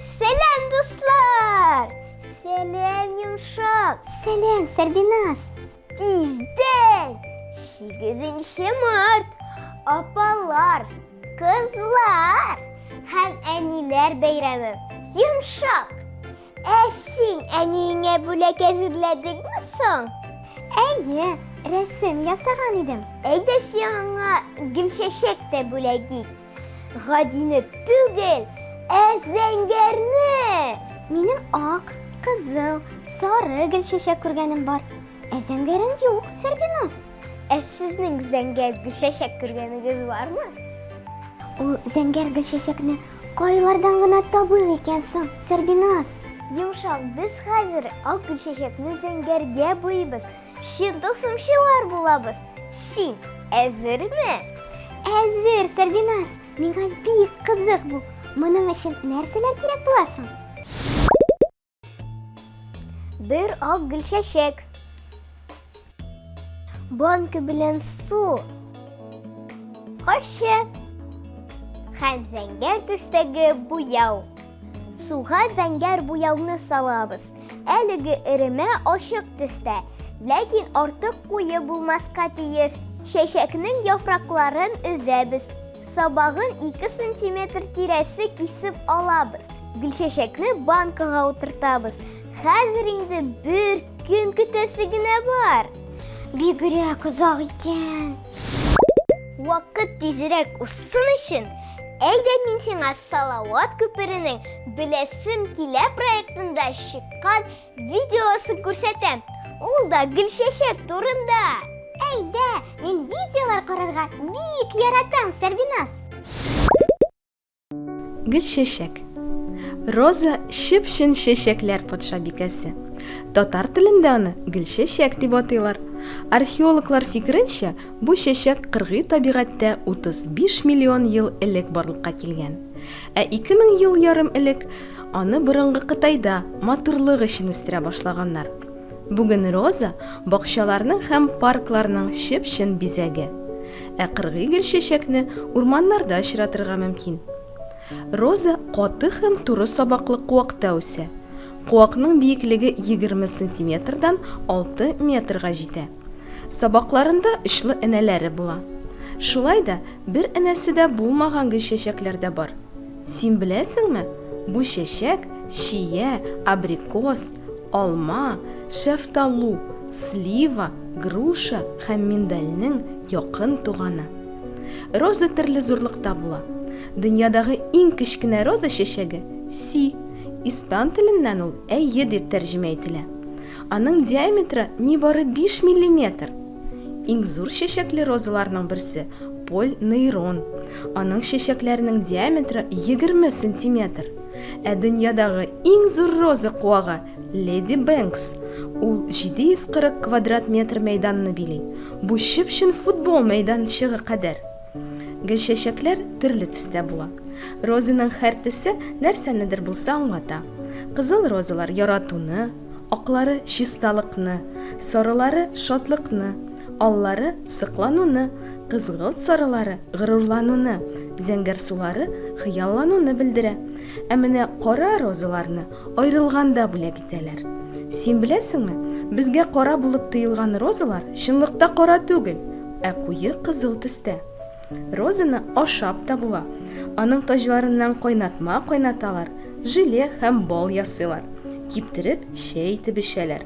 Сәләм, дуслар! Сәләм, Йомшак! Сәләм, Сәрбиназ! Тиздән! 8 март! Апалар, кызлар һәм әниләр бәйрәме! Йомшак! Ә син әниеңә бүләк әзерләдеңме соң? Әйе, рәсем ясаган идем. Әйдә син аңа гел чәчәк тә бүләк ит. Гадине түгел, ә зәңгәрне! Минем ак, кызыл, сары гел чәчәк күргәнем бар. Ә зәңгәрен юк, Сәрбиназ. Ә сезнең зәңгәр гел чәчәк күргәнегез бармы? Ул зәңгәр гел чәчәкне Кайлардан гына табыйк икән соң, Сәрбиназ? Йомшак, без хәзер ак гөлчәчәкне зәңгәргә буйбыз. Чын тылсымчылар булабыз. Син әзерме? Әзер, Сәрбиназ. Миңа бик кызык бу. Моның өчен нәрсәләр кирәк була соң? Бер ак гөл чәчәк. Банка белән су. Кашы. Хәм зәңгәр төстәге буяу. Суга зәңгәр буяуны салабыз. Әлеге эремә ашык төстә, ләкин артык куе булмаска тиеш. Чәчәкнең яфракларын өзәбез. Сабагын 2 сантиметр тирәсе кисеп алабыз. Гөлчәчәкне банкага утыртабыз. Хәзер инде бер көн көтәсе генә бар. Бигрәк озак икән. Вакыт тизрәк узсын өчен, әйдә мин сиңа Салават күперенең Беләсем килә проектында чыккан Видеосын күрсәтәм. Ул да гөлчәчәк турында. Әйдә, мин видеолар карарга бик яратам, Сәрбиназ. Гөлчәчәк. Роза чып-чын чәчәкләр патшабикәсе. Татар телендә аны гөлчәчәк дип атыйлар. Археологлар фикеренчә, бу чәчәк кыргый табигатьтә 35 миллион ел элек барлыкка килгән. Ә ике мең ел ярым элек аны борынгы Кытайда матурлык өчен үстерә башлаганнар. Бүген роза, бакчаларның һәм паркларның чып-чын бизәге. Ә кыргый гөлчәчәкне урманнарда очратырга мөмкин. Роза каты һәм туры сабаклы куакта үсә. Куакның биеклеге егерме сантиметрдан алты метрга җитә. Сабакларында очлы энәләре була. Шулай да бер энәсе дә булмаган гел чәчәкләр дә бар. Син беләсеңме, бу чәчәк, чия, абрикос, алма, шәфталу, слива, груша һәм миндальнең якын туганы. Роза төрле зурлыкта була. Дөньядагы иң кечкенә роза чәчәге, си, испан теленнән ул әйе дип тәрҗемә ителә. Аның диаметры нибары 5 миллиметр. Иң зур чәчәкле розаларның берсе Поль нейрон. Аның чәчәкләренең диаметры 20 сантиметр. Ә дөньядагы иң зур роза куагы Леди Бэнкс. Ул 740 квадрат метр мәйданны били. Бу чып-чын футбол мәйданчыгы кадәр. Гөлчәчәкләр төрле төстә була. Розаның һәр төсе нәрсәнедер булса аңлата. Кызыл розалар яратуны, Аклары чисталыкны, сорылары шатлыкны, аллары соклануны, кызгылт сарылары горурлануны, зәңгәр сулары хыяллануны белдерә. Ә менә кара розаларны аерылганда бүләк итәләр. Син беләсеңме, безгә кара булып тоелган розалар чынлыкта кара түгел, ә куе кызыл төстә. Розаны ашап та була. Аның таҗларыннан кайнатма кайнаталар, желе һәм бал ясыйлар. Киптереп, чәй итеп эчәләр.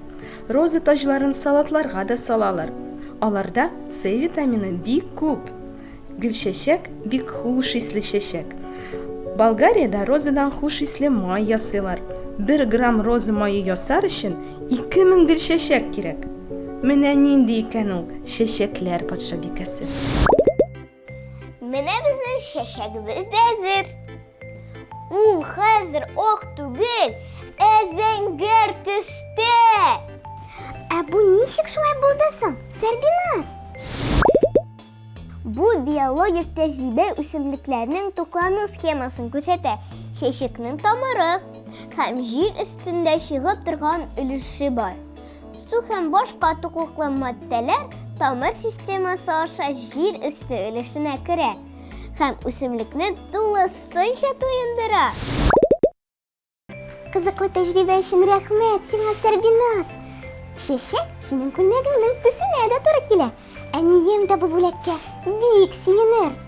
Роза таҗларын салатларга да салалар. Аларда С витамины бик күп. Гөлчәчәк, бик хуш исле чәчәк. Болгариядә розадан хуш исле май ясыйлар. Бер грамм роза мае ясар өчен Ике мең гел чәчәк кирәк. Менә нинди икән ул чәчәкләр патшабикәсе. Менә безнең чәчәгебез дә әзер. Ул хәзер ак түгел, ә зәңгәр төстә. Ә бу ничек шулай булды соң, Сәрбиназ? Бу биологик тәҗрибә үсемлекләрнең туклану схемасын күрсәтә. Чәчәкнең тамыры һәм җир өстендә чыгып торган өлеше бар. Су һәм башка туклыклы матдәләр тамыр системасы аша җир өсте өлешенә керә һәм үсемлекне тулысынча туендыра. Кызыклы тәҗрибә өчен рәхмәт сиңа, Сәрбиназ. Чәчәк синең күлмәгеңнең төсенә дә туры килә. Әнием дә бу бүләккә бик сөенер.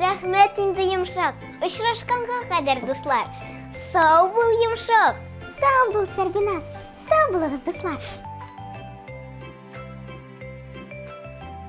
Рәхмәт инде йомшак. Очрашканга кадәр, дуслар. Сау бул, йомшак. Сау бул, Сәрбиназ. Сау булыгыз, дуслар.